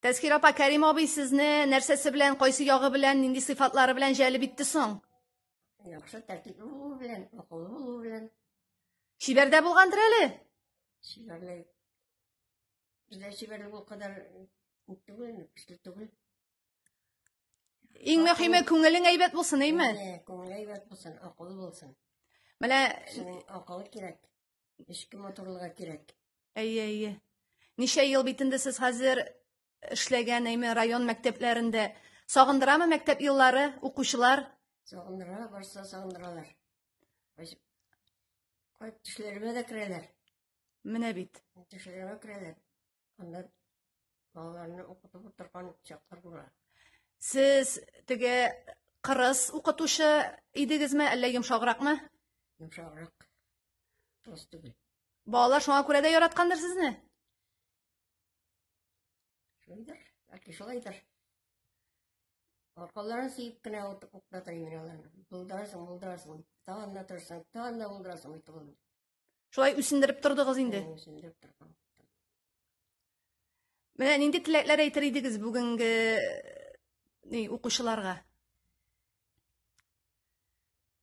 Тәсхир апа, Кәрим абый сезне нәрсәсе белән, кайсы ягы белән, нинди сыйфатлары белән җәлеп итте соң? Яхшы тәртипле булу белән, акыллы булу белән. Чибәрдә булгандыр әле? Чибәрле. Бездә чибәрле бу кадәр түгел, көчле түгел. Иң мөһиме күңелең әйбәт булсын, әйме? Күңел әйбәт булсын, акыллы булсын. Менә акыллы кирәк. Эшке моторлыга кирәк. Әйе, әйе. Ничә ел бит инде сез хәзер эшләгән әйме район мәктәпләрендә. Сагындырамы мәктәп еллары, укучылар? Сагындыра, барса сагындыралар. Баш- Кайт төшләремә дә керәләр. Менә бит. Төшләремә керәләр. Анда балаларны укытып утырган чаклар була. Сез теге кырыс укытучы идегезме, әллә йомшагракмы? Йомшаграк. Кырыс түгел. Балалар шуңа күрә дә яраткандыр сезне? Шулайдыр, яки шулайдыр. Аркаларын сөеп кенә укытып укытатыр инде аларны. Булдырасың, булдырасың. Тагын да торсаң, тагын да булдырасың, итеп Шулай үсендереп тордыгыз инде. Үсендереп тордым. Менә нинди теләкләр әйтер идегез бүгенге ни укучыларга?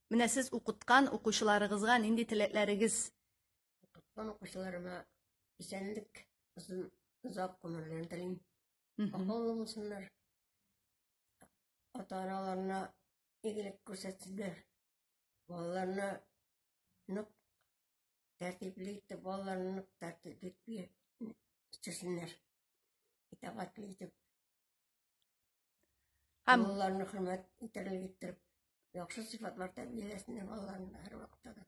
Менә сез укыткан укучыларыгызга нинди теләкләрегез? Укыткан укучыларыма исәнлек, озын озак гомерләрен телим. Акыллы булсыннар. Ата-аналарына игелек күрсәтсеннәр. Балаларына нык тәртипле итеп, балаларына нык тәртипле итеп үстерсеннәр. Итагатьле итеп. Һәм балаларны хөрмәт итәрлек иттереп, яхшы сыйфатлар тәрбияләсеннәр балаларны һәр вакытта да.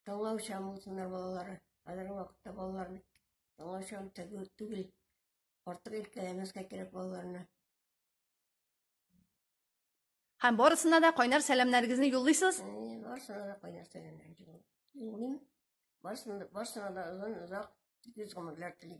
Таңлау чам булсыннар балалары. Хәзерге вакытта балалар бит таңлау чам түгел, түгел. Артык иркәләмәскә кирәк балаларны. Һәм барысына да кайнар сәламнәрегезне юллыйсыз? Әйе, барысына да кайнар сәламнәрегезне юллыйм. Юллыйм. Барысына да, барысына да озын, озак, көз гомерләр телим.